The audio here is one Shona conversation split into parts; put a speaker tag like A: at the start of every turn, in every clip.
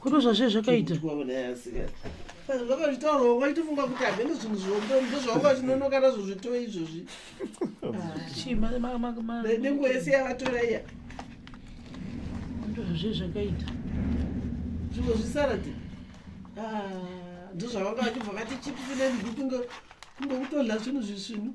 A: kutozva zve zvakaita zvakazvitaurawo
B: waitofunga kuti hameno zvinhu zvombo ndozvawanga chinonoka nazvo zvitoo izvozvi nenguva yese yavatora iya ndozva
A: zve zvakaita
B: zvimwe zvisarati ah, ndozvavanga vachibva vati chipisi nenhuku kunge kutodla zvinhu zvisvinu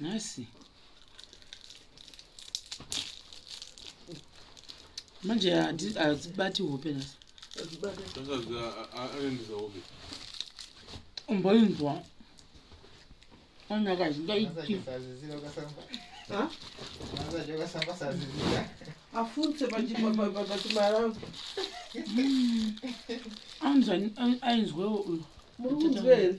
A: nhasi manje hadzibati hope nhasi umboinzwa anaka zvingaiti
B: afunse pachimaraa
A: ainzwewo uyo muri kunzwa here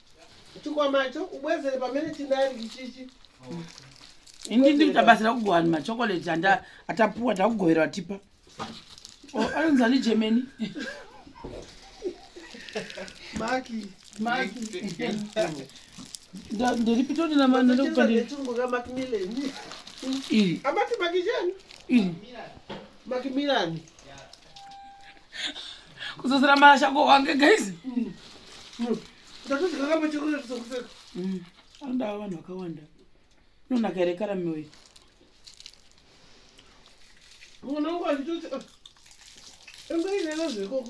B: chikwama cho ubwezere pamene chinari ichichi
A: ini ndiri tabatsira kugohani machokoleti anda atapuwa takugovera vatipa oh, anonzi ani germany
B: maki
A: maki ndiri pitoni namandokupandiiri amati maki chani
B: iri
A: maki
B: mirani
A: kuzozera marasha ko wange guys mm.
B: mm. mm. anodava
A: vanhu vakawanda unonaka here karami uyu
B: unongo achitoti ah, engainena zvekoko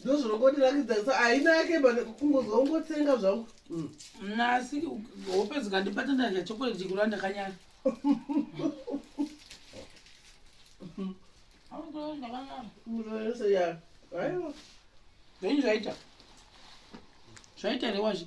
B: ndozvinongondirakidza haina yake kungozwa ungotsenga zvangu mm. nasi
A: hope dzikandibata ndadya chokoleti chikura ndakanyara
B: zvenyu
A: zvaita zvaita rewazvi